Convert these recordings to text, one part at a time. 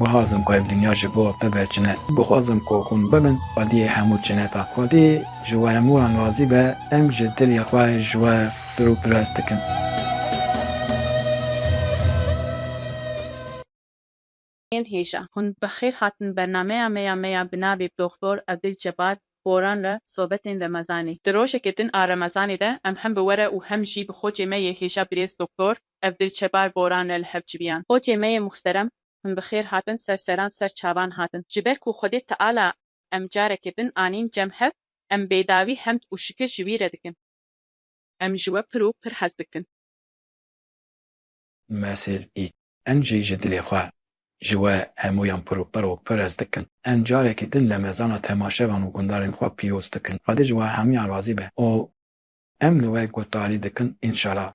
Guhazim ku ev dinya ji bo bibe çine. Guhazim ku hûn bibin xwediyê hemû çineta. Xwedî ji we hemû wan razî be, em ji dilê xwe ji we pir û pirs dikin. Yên hêja, hûn bi xêr hatin bernameya me ya me ya bi navê Doktor Evdil Cebar Boran re sobetên Remezanî. Di rojeke din a Remezanê de em hem bi we re û hem jî bi xocê me yê hêja birêz Doktor. ev dil çepar boran ne li hev civiyan. Xocê me yê muxsterem him bi xêr hatin ser seran ser çavan hatin. Ji ber ku Xwedê Teala em carekê din anîn cem hev, em bêdawî hemd û şikir ji wî re dikin. Em ji we pir û pir hez dikin. Mesel î. Em jî ji dilê xwe ji we hemûyan pir û pir û pir hez dikin. Em carekê din li mezana temaşevan û gundarên xwe pîroz dikin. Xwedê ji we hemûyan razî be û em li we guhdarî dikin, înşala.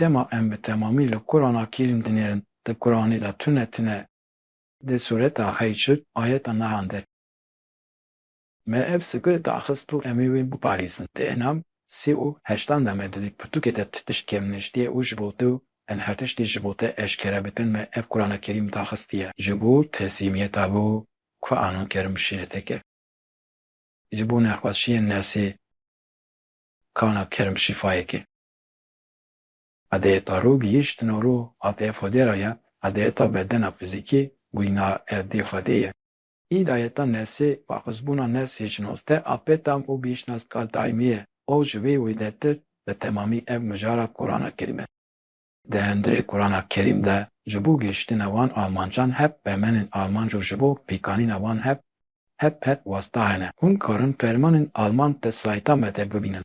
Dema em bi temamî li Kurana Kerîm dinêrin, di Kuranê de tune tune di sureta Hîcr ayeta nihan de me ev sike daxist û em ê wê biparêzin. Di enam sê û heştan de me didît pirtûkê te ti tişt kêm niştiye û ji bo tu em her tiştî ji bo te eşkere bikin me ev Kurana Kerîm daxistiye. Ji bo teslîmiyeta bo ku anan kerim şîreteke. Ji bo nexweşiyên nefsê kana kerim şîfayeke. Adeta rû gihîştin û rû hate fodera ye, adeta bedena fizîkî wîna erdê Xwedê ye. Îdayeta nesê, waxuzbûna nesê ji nozdeh a pê tam û gihîştina stal daîmî ye û ji wê wêdetir bi temamî ev mijara Kurana Kerîm e. Di hundirê Kurana Kerîm de ji bo gihîştina wan amancan hep pemenên amanc û ji bo pêkanîna wan hep hep hep wasta hene. Hûn karin fermanên alman di sayta me de bibînin.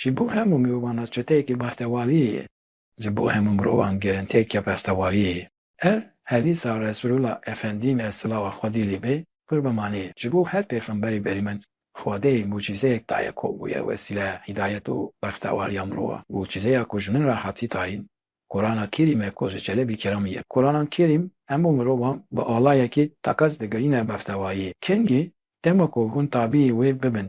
Ji bo hemû mirovan re çeteyeke bertewaliyê ye. Ji bo hemû mirovan girintiyeke bertewaliyê ye. Ev hedîsa Resûlullah Efendî me silawa Xwedî lê be pir bimanê, ji bo her pêxemberî berî min Xwedê mucîzeyek daye ku bûye wesîleya hîdayet û berxtewaliya mirovan. Mucîzeya ku ji min re hatî tayîn Qurana Kerîm e ku ji Çelebî Keramî ye. Qurana Kerîm hemû mirovan bi alayekî teqez digirîne berxtewaliyê. Kengî dema ku hûn tabîyê wê bibin,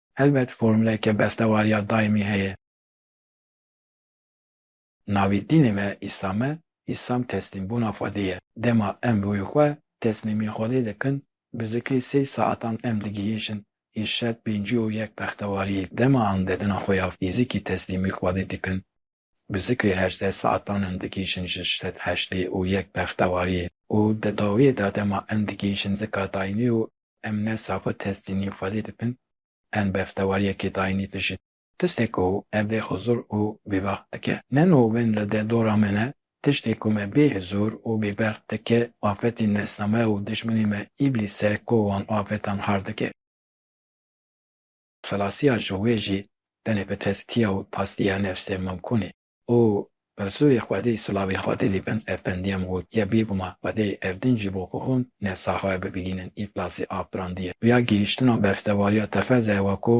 Helbet formuleke bestewariya daîmî heye. Navê dînê me Îslam e, Îslam teslîmbûna Xwedê ye. Dema em rûyê xwe teslîmî Xwedê dikin, bi zikê sey saetan em digihîşin hîş şert pêncî û yek bextewariyê. Dema andedina xwe ya fîzîkî teslîmî Xwedê dikin, Bizikê hejdeh saetan in digihîjin ji sed heştê û yek bextewariyê û di dawiyê de dema in digihîjin zika dayînî û em ne safo testînî xwedî dikin in bextewariyekê dayînî dijîn. Tiştê ku ev dê xwe zor û bêbext dike ne nûvin li deh dora me ne, tiştê ku me bê hizûr û bêbext dike afetî nesname û dijminê me îblîs e ku wan afetan hard dike. Xelasiya ji wê jî tenê bi tezkiya û pastiya nefsê mimkûn e û Rîsûlê Xwedê silavê Xwedê li bin ev pendiya min got, Ya bêguma Xwedê ev din jî bo ku hûn nefsa xwe bibînin îflasê afirandiye. Rûya gihîştina berfdewariya tefeze ew e ku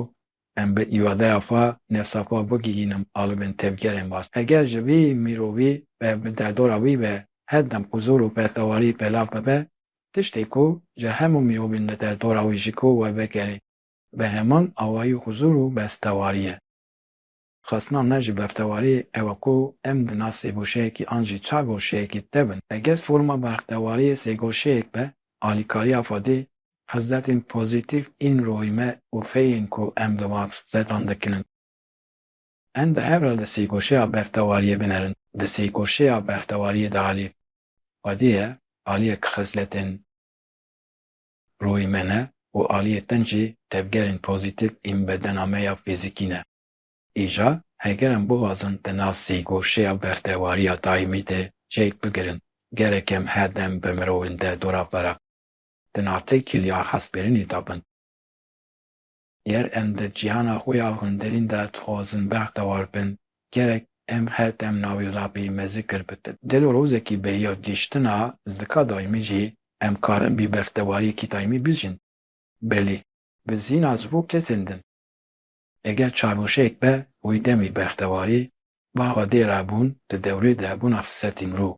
em bi îradeya xwe nefsa xwe bigihînin alibin tevgerên baş. Eger ji vî mirovî ve bi derdora wî ve her dem huzûr û berfdewarî pelav bibe, tiştê ku ji hemû mirovên li derdora wî ji ku we vegerê, Bi heman awayî huzûr û bestewariyê. Xwestina me ji beftewariyê ew e ku em di nav sêgoşeyekî an jî çar goşeyekê de bin. Eger forma bextewariyê sêgoşeyek be, alîkariya xwe dê hizretên pozîtîf ên ruhî me û feyên ku em li wan hizretan dikin in. Em bi hev re di sêgoşeya bextewariyê binerin. Di sêgoşeya bextewariyê de alî xwedê ye, aliyek xisletên. Ruhê me ne û aliyê tenc jî tevgerên pozîtîf ên bedena me ya fîzîkî ne. Îja heger em bixwazin di nav sîgûşeya bextewariya daîmî de çêk bigirin, gerek em her dem bi mirovên de dora pere, di nav têkiliya hestbêrinê de bin. Ger em di cîhana xwe ya hundirîn de dixwazin bextewar bin, gerek em her dem navê Rabbî mezikir bikin. Gelo rojekî bê ya gihîştina zika daîmî jî em karin bi bextewariyekî daîmî bijîn? Belê. Bi zîna ji bo kesên din. Eger çarweşeyek be wê demê bextewarî, baxa dê re bûn di dewrê de bûna firsetî mirov.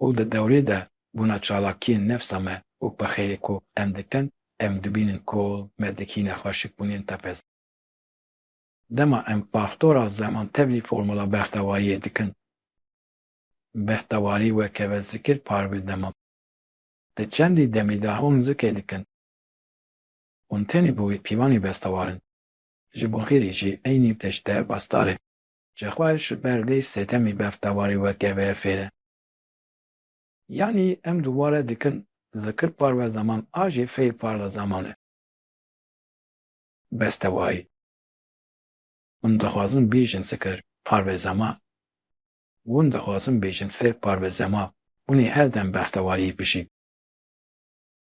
û di dewrê de bûna çalakiyên nefsa me û pixêrê ku em dikin, em dibînin ku me dikîne xweşikbûnên tepez. Dema em faktora zeman tevlî formula bextewariyê dikin, bextewarî weke ve zikir parve dema di çendî demî de hûn zikê dikin. Hûn tenê bi wê pîvanê bestewar in. Ji bo xêrê jî eynî tişt derbasdar e. Jixwe ji ber vê setemî bevtewarî weke ve fêr e. Yanî em du ware dikin, zikir parve zaman a jî fêr parve zaman e. Bestewayî. Hûn dixwazin bêjin zikir parve zaman. Hûn dixwazin bêjin fêr parve zaman. Hûnê her dem bevtewariyê bijîn.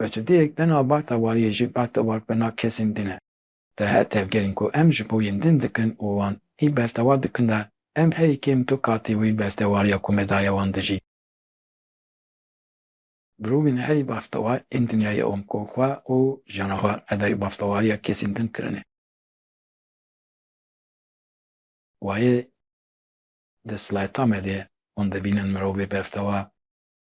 Beçidiyek dina bata wariyê jî bata warpena kesên din e. Di her tevgerên ku em ji bo yên din dikin û wan hî bertewa dikin de, em herî kêm du katî wî bertewariya ku me daye wan dijî. Mirovên herî bertewar ên dinyayê wan ku xwe û jiyana xwe qedayê bertewariya kesên din kirine. Wayê di slayeta me de ye. Wan dibînin mirovê bertewar.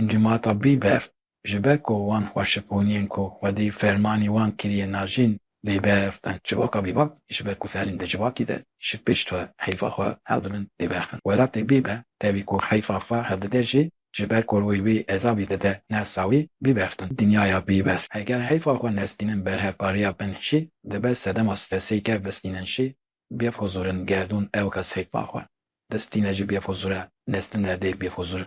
Encûmata Bîber ji ber ku wan xwe şiponiyên ku xwedî fermanî wan kiriye najîn lê beriqîn civaka bîbak ji ber ku ferîn di civakî de ji pişt xwe heyfa xwe hevdidin lê beriqîn welatê Bîber tevî ku heyfa xwe hevdide jî ji ber ku rûyê wî ezabî dide ne sawî bîberiqîn dinyaya bîbes heger heyfa xwe nestînin berhevkariya bin jî dibe sedema stresê ger bistînin jî bêxuzûrin gerdûn ew kes heyfa xwe distîne ji bêxuzûre nestin erdê bêxuzûre.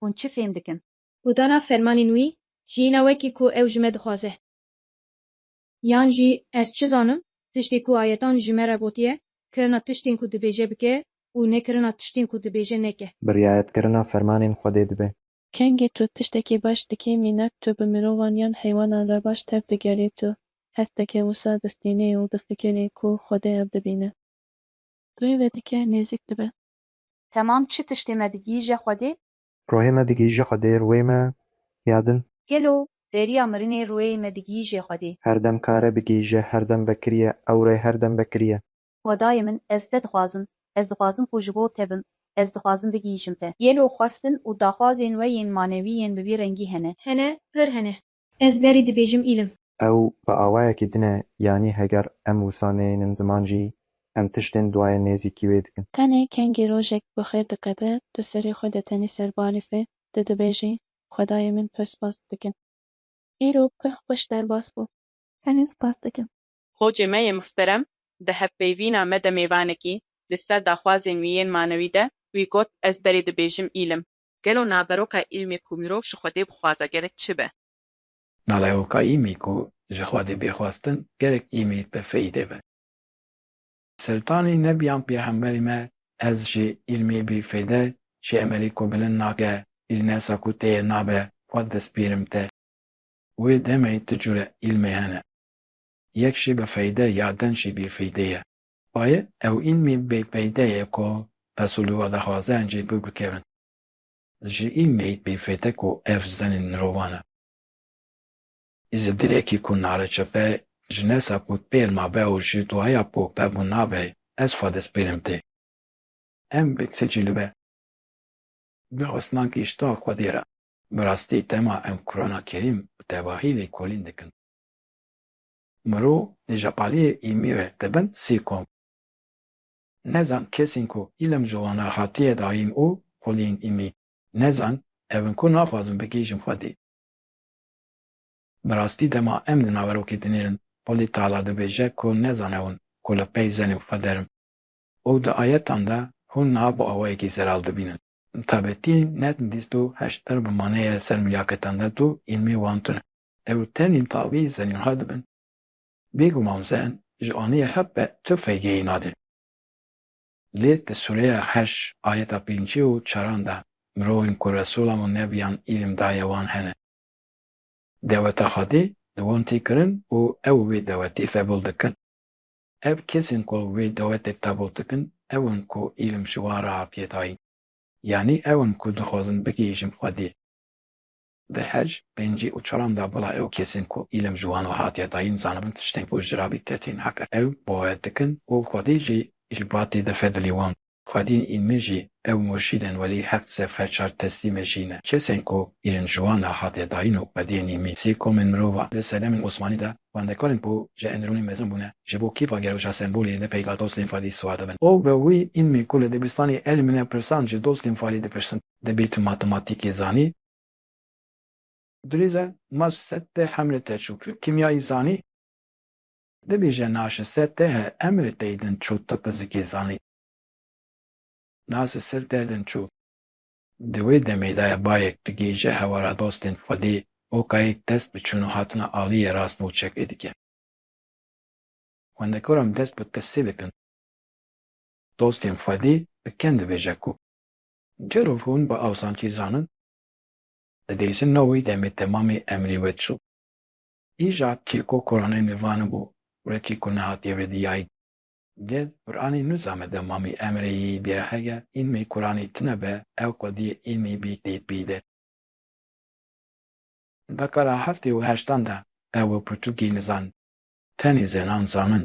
hûn çi fêm dikin. Ku dana fermanên wî jiyîna wekî ku ew ji me dixwaze. Yan jî ez çi zanim, tiştê ku ayetan ji me re gotiye, kirina tiştên ku dibêje bike û nekirina tiştên ku dibêje neke. Bi riayetkirina fermanên Xwedê dibe. Kengê tu tiştekê baş dikê mînak tu bi mirovan yan heywanan re baş tev digerî tu hesteke wisa distînê û difikirî ku Xwedê ev dibîne. Rê vedike nêzik dibe. Temam çi tiştê me digihîje Xwedê? Ruhê me digihîje Xwedê, ruhê me ya din. Gelo beriya mirinê ruhê me digihîje Xwedê? Her dem kare bigihîje, her dem vekiriye, ewre her dem vekiriye. Xwedayê min ez te dixwazim, ez dixwazim ku ji bo te bim, ez dixwazim bigihîjim te. Gelo xwestin û daxwazên we yên manewî yên bi vî rengî hene? Hene, pir hene. Ez berî dibêjim îlim. Ew bi awayekî din e yanî heger em wisa neyênin ziman jî em tiştên duayê nêzîkî wê dikin. Tenê kengî rojek bi xêr dikeve, tu serê xwe de tenî ser balîfê, tu dibêjî, Xwedayê min pir spas didikim. Îro pir xweş derbas bû. Tenê spas dikim. Xocê me yê muhterem di hevpeyvîna me de mêvanekî li ser daxwazên wî yên manewî de wî got ez berî dibêjim îlim. Gelo naveroka îlmê ku mirov ji Xwedê bixwaze gerek çi be? Nalehoka îmî ku ji Xwedê bê xwestin gerek îmî bi feyîdê be. Seltanî nebiyan pêxemberî me ez jî îlmî bî feyde jî emelî ku bilind nake îlnesa ku tê ye nabe xwed despîrim te. Wê demê tu cure îlmê hene. Yek jî bi feyde ya din jî bî feydê ye. Bayê ew îlmî bê peyde ye ku Pesûlû a dixwaze em jê birbikevin. Ji îlmê hît bê fête ku ev zenên mirovan e. Îzê dilekî ku nare çepe ji nesa ku pêl mabe û ji duaya ku pebûn nabe ez xwe destpêlim tê. Em bi ti cî li be. Bi xwestina gihişta Xwedê re. Bi rastî dema em Qurana Kerîm û tevahî lêkolîn dikin. Mirov li Japaliyê îmîre dibin sî kom. Nezan kesên ku îlm ji wan re hatiye dayîn û xwilîn îmî nezan ev in ku naxwazin bigihîjin xwedî. Bi rastî dema em di naverokê dinêrin xwedî tala dibêje ku nezan ew in ku li pey zenên xwe der in û di ayetan de hûn niha bi awayekî zelal dibînin. Tabetî net dîst û heşt der bi maneyê li ser milyaketan de tu îlmê wan tune. Ew tenê tavî zenînha dibin. Bêguman zen ji aniyê hev be tu feygeyî nade. Lê di sûreya heş ayeta pêncî û çaran de mirovên ku Resûla wan nebiyan îlim daye wan hene. Deweta Xwedê di wan tê kirin û ew wê dewetê febûl dikin. Ev kesên ku wê dewetê qebûl dikin ew in ku îlim ji wan re hatiye dayîn. Yanî ew in ku dixwazin bigihîjin Xwedê. Di hej, pêncî û çaran de bila ew kesên ku îlm ji wan ve hatiye dayîn zanibin tiştên ku ji rabî te tên heq e ew bawer dikin û xwedî jî ji batî de fedilî wan xwedîn în min jî ew murşîdên welî heft sed fe çar testî me jî ne kesên ku îlm ji wan ve hatiye dayîn û xwediyên în min sê komên mirovan. Di sedemên Osmanî de xwendekarên ku ji endirûnê mezin bûne ji bo kêfa gerweşa sembolî li peyda dostên fadî siwar dibin û bi wî în min ku li dibistanê el min e pirsan ji dostên fadî dipirsin. Dibî tu matematîkê zanî. Dirîze mac set tê hemrê te çû tu kîmyayî zanî. Dibî je naşi se te he emrê tey din çû tu fizîkê zanî. Nasi sir te din çû. Di wê demê de bayek tu gêje hewara dostên Xwedê û kayêk dest bi çûn û hatina aliyê rast bo çekê dike. Xwendekoran dest bi tirsê dikin. Dostên Xwedê bi ken dibêje ku Gelo hûn bi awsancî zanin? Divê ji nav wî demê temamî emrê we çi bû? Îja çîrko Kur'anê me vanibû were çî ku nehatiye wê diyayîn. Gel Kur'anê nû zame de mamî emrê yî bîe heger îlmê Kur'anê tune be ew xwediyê îlmê bî tê pî de. Di dekara heftê û heştan de ew we pirtûkê nizanin. Tenê zenan zanin.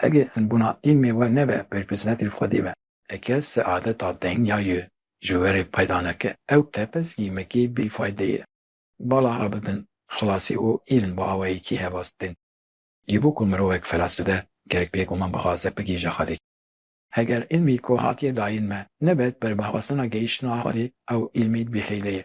Hege bûna îlmê we nebe berpirsnetî li xwedî be. Eke seadeta deng ya yê ji werê peyda neke, ew tepez îmekî bî fayde ye. Bala rabidin, xilasî û îlm bi awayekî hevas didin. Yê bo ku mirovek felas bibe, gerek bêguman bi xaze bigihîje xwedî. Heger îlmî ku hatiye dayîn me, nebet ber bi xwestina gehîştina xwedî, ew îlmî bî hêle ye.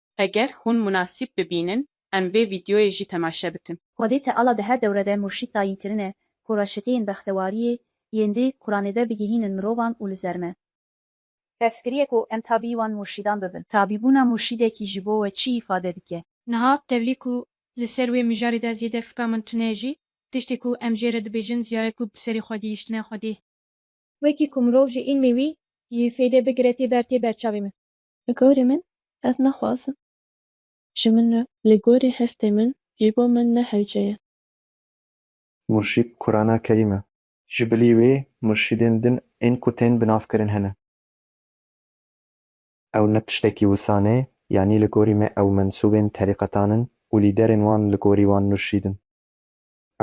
Eger hûn munasîb bibînin em vê vîdyoyê jî temaşe bikin. Xwedê Teala di her dewre de murşîd tayîn kirine ku reçeteyên bextewariyê yên di Quranê de bigihînin mirovan û li zer me. Tersgiriyê ku em tabî wan murşîdan bibin. Tabîbûna murşîdekî ji bo we çi îfade dike? Niha tevlî ku li ser wê mijarê de zêde fika min tune ye jî tiştê ku em jê re dibêjin ziyaye ku bi serê xwe gihîştine Xwedê. Wekî ku mirov ji îlmê wî yê fêde bigire tê ber tê ber çavê min. Li gorî min ez naxwazim. Ji min re li gorî hestê min jî bo min ne hewce ye. Murşîd Kurana Kerîm e. Ji bilî wê murşîdên din ên ku tên binavkirin hene. Ew ne tiştekî wisan e, yanî li gorî me ew mensûbên terîqetan in û lîderên wan li gorî wan murşîd in.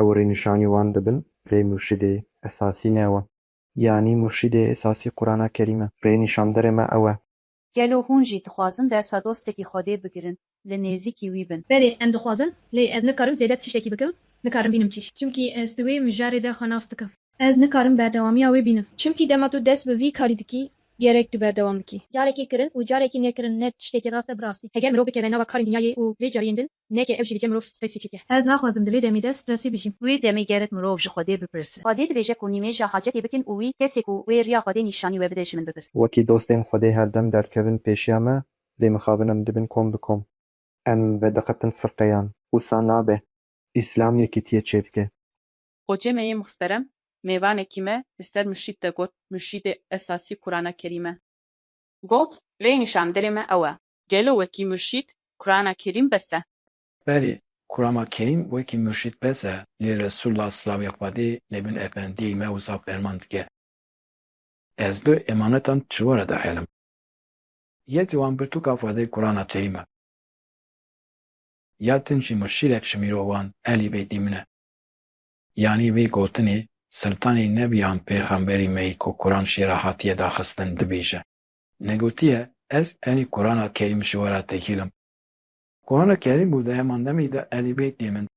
Ew rênîşanî wan dibin, lê murşîdê esasî ne wan. Yanî murşîdê esasî Qurana Kerîm e. Rê nîşanderê me ew e. Gelo hûn jî dixwazin dersa dostekî Xwedê bigirin, li nêzîkî wî bin? Berê em dixwazin, lê ez nikarim zêde bi tiştekî bikim, nikarim bînim çi. Çimkî ez di wê mijarê de xwe nas dikim. Ez nikarim berdewamiya wê bînim. Çimkî dema tu dest bi vî karî dikî, gerek tu berdewam bikî. Carekî kirin û carekî nekirin ne tiştekî rast e bi rastî. Heger mirov bikeve nava karên dinyayê û vê cariyên din, Neke ev jî dike mirov stresî çêke. Ez naxwazim di vê demê de stresî bijîm. Di wê demê gerek mirov ji Xwedê bipirse. Xwedê dibêje ku nîmêja hacetê bikin û wî kesê ku wê riya Xwedê nîşanî we bide ji min bipirse. Wekî dostên Xwedê her dem derkevin pêşiya me, lê mixabin em dibin kom bi kom. Em vediqetin firqeyan. Wisa nabe. Îslam yekîtiyê çêdike. Xocê me yê muxsterem mêvanekî me li ser muşît de got, Muşîtê esasî Kurana Kerîm e. Got, Rênîşan dilê me ew e. Gelo wekî murşîd Kurana Kerîm bes e? Berê, Kurama Kerîm wekî murşîd bes e, lê Resûla silavê Xwedê lê min efendiyê me wisa ferman dike. Ez du emanetan çiware dixêlim. Yek ji wan pirtûka Xwedê Kurana Kerîm e. Ya tin jî murşîdek ji mîro wan Elî Beydî min e. Yanî vê gotinê, Siltanê Nebiyan Pêxemberî me yî ku Kuran şêra hatiye daxistin dibêje. Negotiye ez enî Kurana Kerîm ji we re tekîlim. Kurana Kerîm û di heman demê de Elî Beytê min.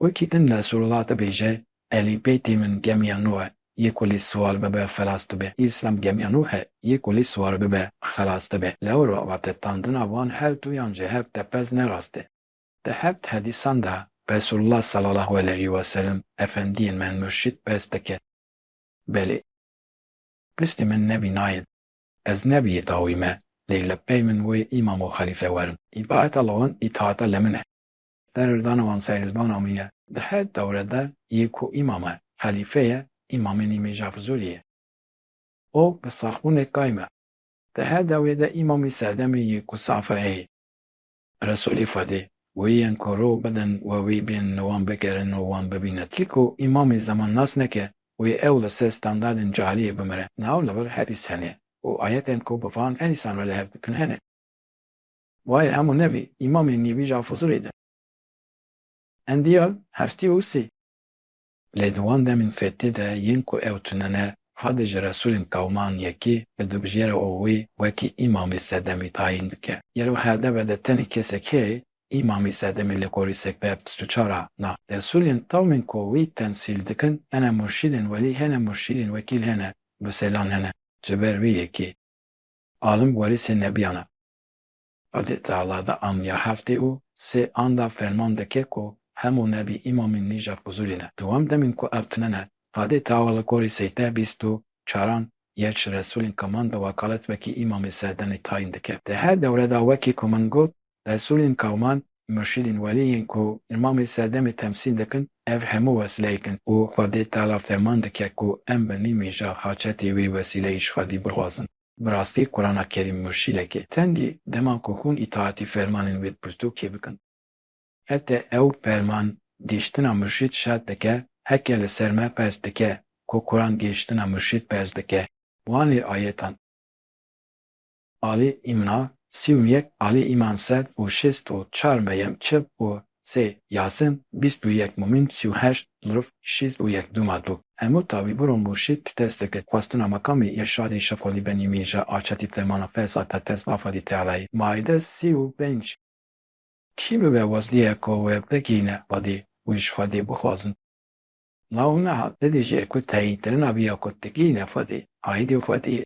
Wekî din Nesurullah dibêje, Elî Beytê min gemiya nû e, yê ku lê siwar bibe xelas dibe. Îslam gemiya nû e, yê ku lê siwar bibe xelas dibe. Lewir ve avtedtandina van her duyan ji hev tepez ne rast e. Di heft hedîsan de Resulullah sallallahu eleyhi weselem, Efendiyên me, murşîd, bes dike. Belê. Listê min nebî nayên. Ez nebî yê dawî me lê li pey min wê îmam û xelîfe werin. Îtaeta li wan îtaeta li min e. Serhildana wan serhildana min e. Di her dewre de yê ku îmam e, xelîfe ye, îmamê nî Mêrja Fizûlî ye. O bi saxbûnê kay me. Di her dewrê de îmamê serdemê yê ku safe heye. Resûlê Xwedê, wê yên ku rû bidin we wî bên li wan bigerin û wan bibîne tî ku îmamê zemanas neke, wê ew li ser standardên cahiliyê bimire. Niha li vir hedîs hene û ayetên ku bi van hedîsan re li hev dikin hene. Wayê hemû nevî îmamê nêvîj a Fuzulî de. Endiyal heftî û sî. Lê di wan demên fêtî de yên ku ew tune ne, Hadi ji Resûlên Kewman yekî li dubijêra û wî wekî Îmamê Sedemî tayîn dike. Gelo HDB de tenê kesek heye Îmamê Sedemî li gorî sekbeya bîst û çar a na? Resûlên tewmên ku wî temsîl dikin hene murşîdên welî hene murşîdên wekîl hene bi selan hene ji ber wî yekî alim werîsê nebiyan e. Qadê Teala da an ya heftê û sê an da ferman dike ku hemû nebî îmamîn nîjad huzurî ne. Di wan demîn ku ev tune ne, Qadê Teala li gorî seyte bîst û çaran yê ji Resûlên Kaman di wekalet wekî îmamê serdemî tayîn dike. Di her dewre da wekî ku min got, Resûlên Kaman, murşîdên welî yên ku îmamê serdemê temsîl dikin, ev hemû wesileyek in û Qadê Teala ferman dike ku em bi nîmîja haçetê wê wesileyê ji xwedî bixwazin. Bi rastî Kurana Kerîm murşîdeke tendî dema ku hûn îtaatî fermanên wê pirtûkê bikin. Hete ew ferman gêştina murşîd şert dike, heke li ser me ferz dike ku Kuran gêştina murşîd ferz dike. Wan lê ayetan. Alî Îmna, sî û yek Alî Îman sed û şêst û çar Meyem çil û Sê Yasin, bîst û yek Mûmîn, sî û heşt Zurf, şîst û yek Dûma Dû. Hemû tawî bûr û mûrşîd tu test dikir. Xwestina Makamê Îrşadê Şefqolî Benî Mîrja a çetî Fermana Fêsa te test Afadî Tealayî, Maîde sî û pênc. Kî bibe wezlîye ku wê bigihîne xwedî û ji xwedî bixwazin? Law nehat, ti dijî ku teyîn kirina vî ya ku digihîne xwedî, aîdî xwedî ye.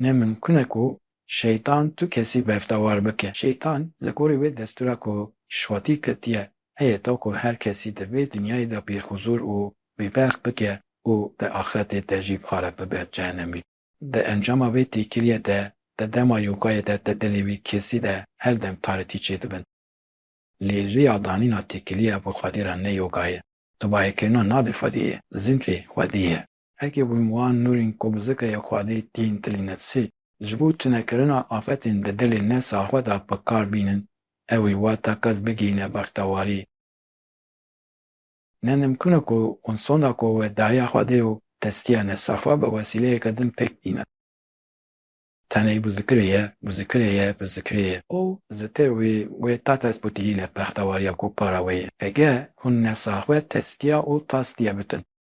Ne mimkun e ku Şeytan tu kesî bevdewar bike. Şeytan li gorî wê destûra ku şwatî ketiye heye ta ku her kesî di vê dinyayê de bî huzûr û bî bext bike û di axretê de jî xarab bibe cehenemî. Di encama vê têkiliyê de di dema yokayê de di dilê wî kesî de her dem tarekî çê dibin. Lê riya danîna têkiliya bo xwedî re ne yoga ye. Dubayekirina navê xwediyê, zînfê xwedî ye. Eke wî wan nûrên ku bi zikeyê Xwedê tên tilînetsî, ji bo tunekirina afetên di dilê ne saxwe de bi kar bînin, ewî wata kes bigihîne bextewarî. Ne nimkûn e ku wan sonda ku we daye Xwedê û testiya ne saxwe bi wesîleyeke din pêk bîne. Tenê bi zikirê ye, bi zikirê ye, bi zikirê ye. Û zikir wî wê ta dest bo tilîne bextewariya ku para wê ye. Eke hûn ne saxwe testiya û tastiya bikin,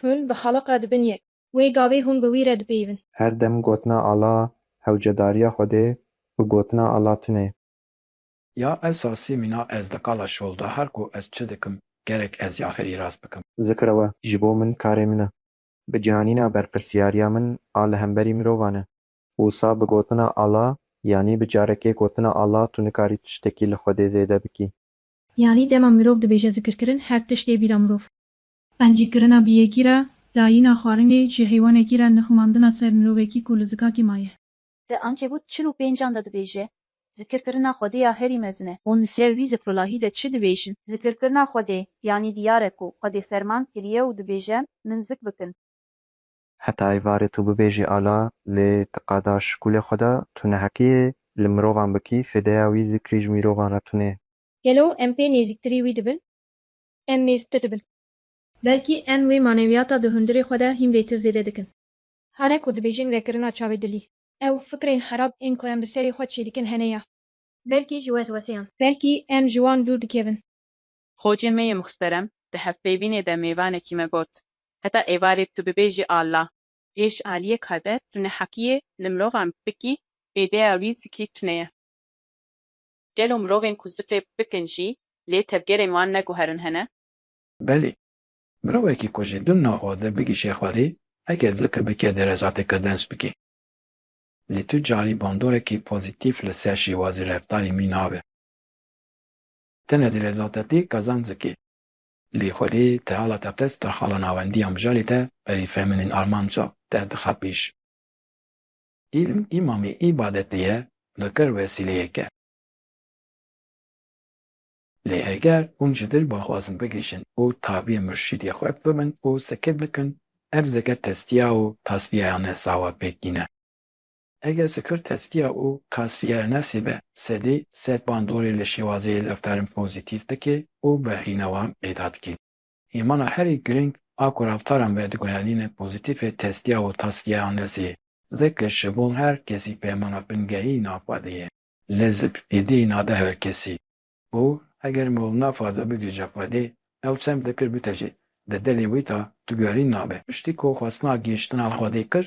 Hûn bi xaliq re dibin yek. Wê gavê hûn bi wî re dipeyivin. Her dem gotina Ala hewcedariya Xwedê û gotina Ala tune. Ya ez sasî mîna ez di qala şol de her ku ez çi dikim gerek ez ya xêrî rast bikim. Zikra we ji bo min karê min e. Bi cihanîna berpirsyariya min a li hemberî mirovan e. Wisa bi gotina Ala yanî bi carekê gotina Ala tu nikarî tiştekî li Xwedê zêde bikî. Yanî dema mirov dibêje zikirkirin her tişt ê bîra mirov. Qencîkirina bi yekî re, dayîna xwarinê ji heywanekî re nixumandina ser mirovekî ku li zikakî maye. Di ankebût çil û pênc an de dibêje, Zikirkirina Xwedê ya herî mezin e. Hûn li ser vî zikrulahî de çi dibêjin? Zikirkirina Xwedê, yanî diyar e ku Xwedê ferman kiriye û dibêje, Min zik bikin. Heta êvarê tu bibêjî ala, lê ti qada ji kulê xwe de, tu neheqiyê li mirovan bikî, fêdeya wî zikrî ji mîrovan re tune ye. Gelo em pê nêzîktirî wî dibin? em mêztir dibin. Belkî em wê manewiyata di hundirê xwe de hîn bêtir zêde dikin. Hare ku dibêjin vekirina çavê dilî. Ew fikrên xerab ên ku em bi serê xwe çêdikin hene ya. Belkî ji wesweseyan. Belkî em ji wan dûr dikevin. Xocê me yê muxterem di hevpeyvînê de mêvanekî me got, Heta êvarê tu bibêjî Alla. Pêş aliyê kader tu neheqî yê li mirovan bikî, bêdeya wî zikî tuneye. Gelo mirovên ku zifê bikin jî lê tevgerên wan neguherin hene? Belê. Mirovekî ku ji dûna xwe ve bigihîşe xwedê, heger zifê bike dê rezatê qedenc bike. Lê tu carî bandorekî pozîtîf li ser şêwazê reftarê mî nabe. Tene dê rezate te qezenc bike. Lê xwedê te hala te qist daxala nawendiya mijarê te berî feminîn armanca te dixe pêş. Îlim îmamê îbadetê ye, dikir wesîleyeke. Lê heger hûn ji dil bixwazin bigihîjin û tabîyê murşîdê xwe bibin û sikit bikin, ev zikir tezkîya û tasfîyeya nefsa we pêk tîne. Eger zikir tezkîya û tasfîyeya nefsê be, sedî sed bandorê li şêwazeyê lewtarin pozîtîf dike û behrîna wan peyda dike. Hêmana herî girîng a ku reftaran ve diguherîne pozîtîfê testiya û taskiya Anlezî. Zeke ji bo her kesî peymana bingehî nafadê ye. Lez bi êdî nade her kesî. Û eger mol nafade bigê jafadê, ew sem dikir bite jî, di dilê wî de diguherîn nabe. Piştî ku xwestina gihiştina xwedê kir,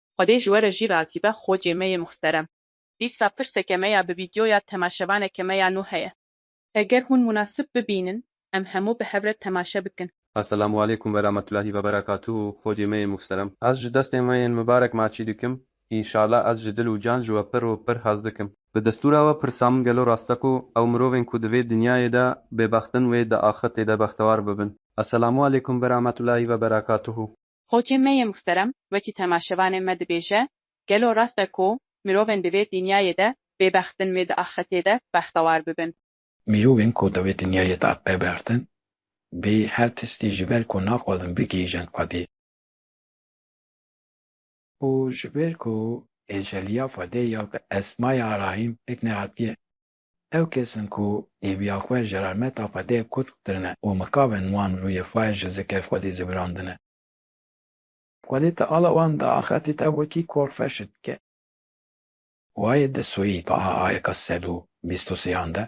Xwedê ji we re jî razî be xocê me yê muhsterem. Dîsa pirseke me ya bi vîdyoya temaşevaneke me ya nû heye. Eger hûn munasib bibînin em hemû bi hev re temaşe bikin. Eselamualeykum verametulahî veberekatuhu xocê me yê muhsterem. Ez ji destên we yên mibarek maçî dikim. Înşala ez ji dil û can ji we pir û pir hez dikim. Bi destûra we pirsa min gelo rast e ku ew mirovên ku di vê dinyayê de bêbext in wê di axirtê de bextewar bibin? Eselamualeykum verametulahî veberekatuhu. Xocê me yê muhterem wekî temaşevanê me dibêje, Gelo rast e ku mirovên di vê dinyayê de bêbext in wê di axretê de bextewar bibin? Mirovên ku di vê dinyayê de bêbext in, bê her tiştî ji ber ku naxwazin bigihîjin xwedê, û ji ber ku êceliya xwedê ya bi esmaya Rahîm pêk nehatiye, Ew kes in ku hêviya xwe ji rahmeta Xwedê kutk kirine û mikaven wan rûyê xwe ji zikê Xwedê zibirandine. Xwedê Teala wan di axirtê de wekî kor ferşt dike. Wayê di soyî taha ayeka sed û bîst û sêyan de.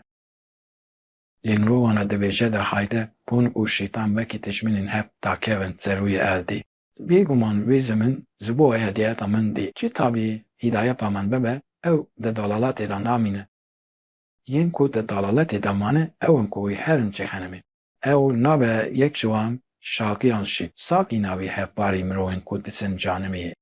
Lê mirovana dibêje de hayde hûn û şeytan wekî tijminên hev dakevin ser rûyê erdê. Bê guman wê zemin ji bo erdêeta min bê. Çi tabî hîdayepa min bibe, ew di dalaletê de namîne. Yên ku di dalaletê de mane ew in ku wê herin çêxenimê. Ew nabe yek ji wan Şakî an Şîk. Sakî navê hevparî mirovên ku disin canimê ye.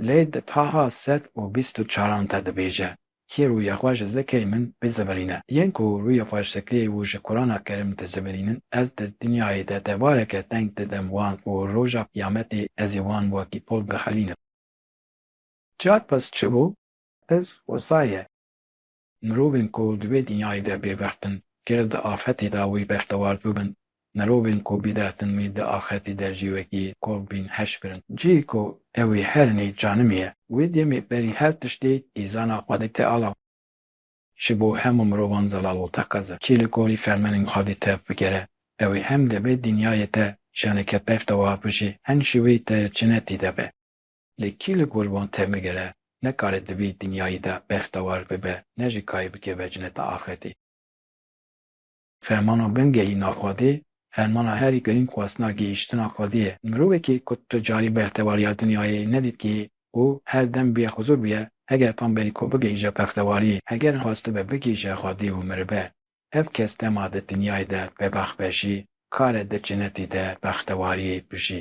Lê di taxa sed û bîst û çaran de dibêje, Kî rûyê xwe ji zikê min bizivirîne? Yên ku rûyê xwe ji zikliyê û ji Kurana Kerim dizivirînin, ez di dinyayê de devareke teng didim wan û roja qiyametê ez ê wan wekî pol bixilînim. Cihad pez çi bû? Pez wisa ye. Mirovên ku di vê dinyayê de bêbext in, ger di axetê de wî bextewar bibin, mirovên ku bîdextin wî di axetê de jî wekî kol bên heş birin. Cihê ku ew ê her nê canimî ye. Wê demê berî her tiştê îzana xwe dike alav. Ji bo hemû mirovan zelal û teqez e. Kê li gorî fermenên xwe dê tev bigere, ew ê hem di vê dinyayê de janeke bextewar bijî, hem jî wê di cinetê de be. Lê kî li gor wan temigire, ne karê di vî dinyayî de bextewar bibe, ne jî kayê bikeve cineta axirtê. Fermana bingehîna Xwedê, fermana herî girîng xwestina gihîştina Xwedê ye. Mirovekî ku tu carî bextewariya dinyayê nedîtiye û her dem bîye xizûr bûye, heger tam berî ku bigihîje bextewariyê, heger xwestibe bigihîje Xwedê û miribe, ev kes dema di dinyayê de bebext be jî, kare di cinetî de bextewariyê bijî.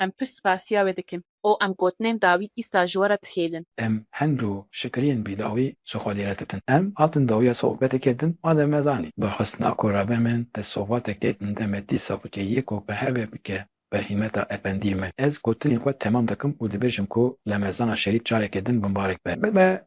Em pir spasiya wê dikin. Û em gotinên dawî îsta ji we re dihêlin. Em hendo şikriyên bîdawî ji xwe lê re dikin. Em hatin dawiya sohbetekê din madem me zanî. Daxistina ku rebe min di sohbatekê din de me dîsa bike yê ku bi heve bike bi hîmeta efendiyê me. Ez gotinên xwe temam dikim û dibêjim ku lemezana şerîf careke din binbarek be. Min me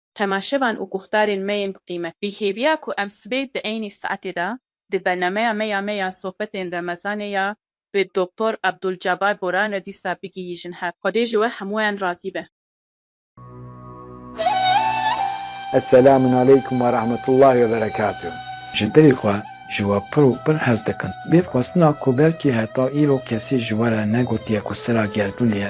temaşevan û guhdarên me yên bi qîmet. Bi hêviya ku em sibê di eynî saetê de di bernameya me ya me ya sohbetên remezanê ya bi Doktor Abdulcabar Boran re dîsa bigihîjin hev. Xwedê ji we hemûyan razî be. Eselamunaleykum werahmetullahi weberekatuh. Ji dilê xwe ji we pir û pir hez dikim. Bêvxwestina ku belkî heta îro kesî ji we re negotiye ku sira gerdûn ye,